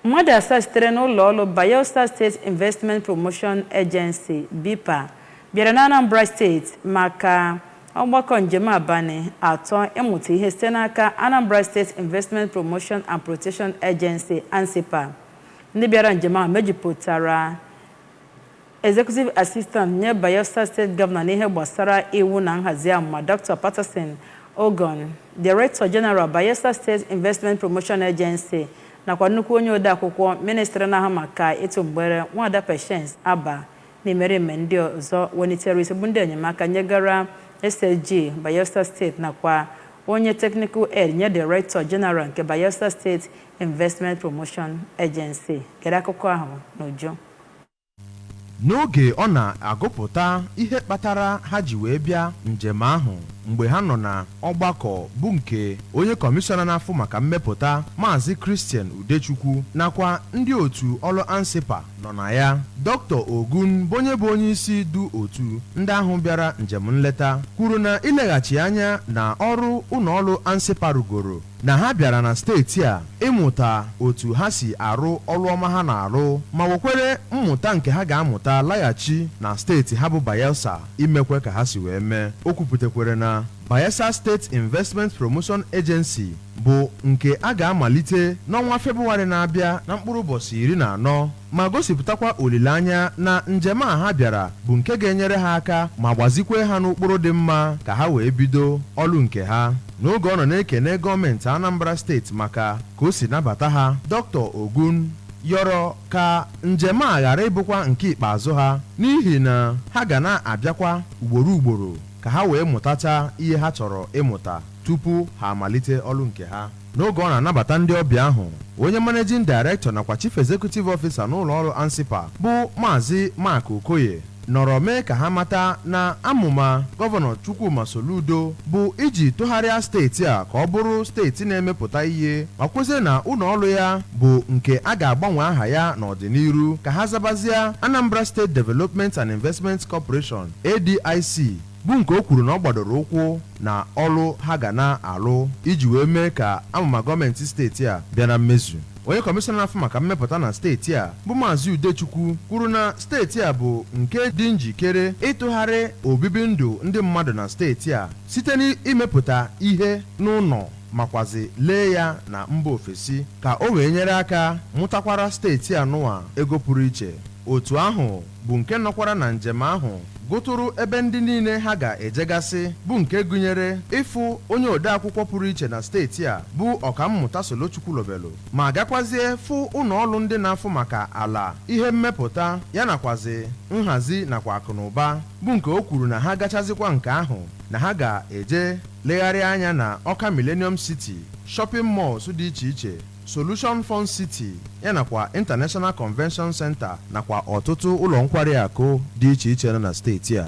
Mmadụ asaa sitere n'ụlọọrụ Bayelsa State Investment Promotion Agency, BIPA, bịara n'Anambra steeti maka ọgbakọ njem abalị atọ ịmụta ihe site n'aka Anambra State Investment Promotion and Protection Agency, ANSIPA. Ndị bịara njem ahụ mejupụtara Executive Assistant nye Bayelsa State Governor n'ihe gbasara iwu na nhazi amụma Doctor Patterson Ogon, Director General Bayelsa State Investment Promotion Agency nakwa nnukwu onye odeakwụkwọ Ministry na-ahụ maka ịtụ mgbere Nwada Patience Abah na imerime ndị ọzọ welitere isi bụ ndị enyemaka nyegara SSG Bayelsa State nakwa onye Technical Aide nye Director General nke Bayelsa State Investment Promotion Agency. Gere akụkọ ahụ n'uju. N'oge ọ na-agụpụta ihe kpatara ha ji wee bịa njem ahụ mgbe ha nọ na ọgbakọ bụ nke onye kọmishọna na-afụ maka mmepụta, Maazị Christian Udechukwu nakwa ndị otu ọrụ ANSIPA nọ na ya, Doctor Ogon bụ onye bụ onyeisi du otu ndị ahụ bịara njem nleta kwuru na ileghachi anya na ọrụ ụlọọrụ ANSIPA rụgoro na ha bịara na steeti a ịmụta otu ha si arụ ọlụ ọma ha na-arụ ma wekwere mmụta nke ha ga-amụta laghachi na steeti ha bụ Bayelsa imekwe ka ha si wee mee. O kwupụtakwere na Bayelsa State Investment Promotion Agency bụ nke a ga-amalite n'ọnwa Febụwarị na-abịa na mkpụrụ ụbọchị iri na anọ. ma gosipụtakwa olileanya na njem a ha bịara bụ nke ga-enyere ha aka ma gbazikwee ha n'ụkpụrụ dị mma ka ha wee bido ọlụ nke ha. N'oge ọ nọ na-ekene gọọmentị Anambra steeti maka ka o si nabata ha, Doctor Ogon yọrọ ka njem a ghara ịbụkwa nke ikpeazụ ha n'ihi na ha ga na-abịakwa ugboro ugboro ka ha wee mụtacha ihe ha chọrọ ịmụta tupu ha amalite ọlụ nke ha. N'oge ọ na-anabata ndị ọbịa ahụ, onye Managing Director nakwa Chief Executive Officer n'ụlọọrụ ANSIPA bụ Maazị Mark Okoye nọrọ mee ka ha mata na amụma Gọvanọ Chukwuma Soludo bụ iji tụgharịa steeti a ka ọ bụrụ steeti na-emepụta ihe ma kwezie na ụlọọrụ ya bụ nke a ga-agbanwe aha ya n'ọdịniru ka ha zabazia Anambra State Development and Investment Corporation, ADIC, bụ nke o kwuru na ọ gbadoro ụkwụ na ọlụ ha ga na-alụ iji wee mee ka amụma gọọmenti steeti a bịa na mmezu. Onye kọmishọna na-afụ maka mmepụta na steeti a bụ Maazị Udechukwu kwuru na steeti a bụ nke dị njikere ịtụgharị obibi ndụ ndị mmadụ na steeti a site n'imepụta ihe n'ụlọ makwazi lee ya na mba ofesi ka o wee nyere aka mụtakwara steeti anụwa ego pụrụ iche. Otu ahụ bụ nke nọkwara na njem ahụ gụtụrụ ebe ndị niile ha ga-ejegasị bụ nke gụnyere ịfụ onye odeakwụkwọ pụrụ iche na steeti a bụ Ọkammụta Solo Chukwulobelu ma gakwazie fụ ụlọ ọrụ ndị na-afụ maka ala ihe mmepụta ya nakwazi nhazi nakwa akụnụba bụ nke o kwuru na ha gachazikwa nke ahụ na ha ga-eje legharịa anya na Ọka Millennium City shopping malls dị iche iche Solution Fun City ya nakwa International Convention Center nakwa ọtụtụ ụlọ nkwari akụ dị iche iche na steeti a.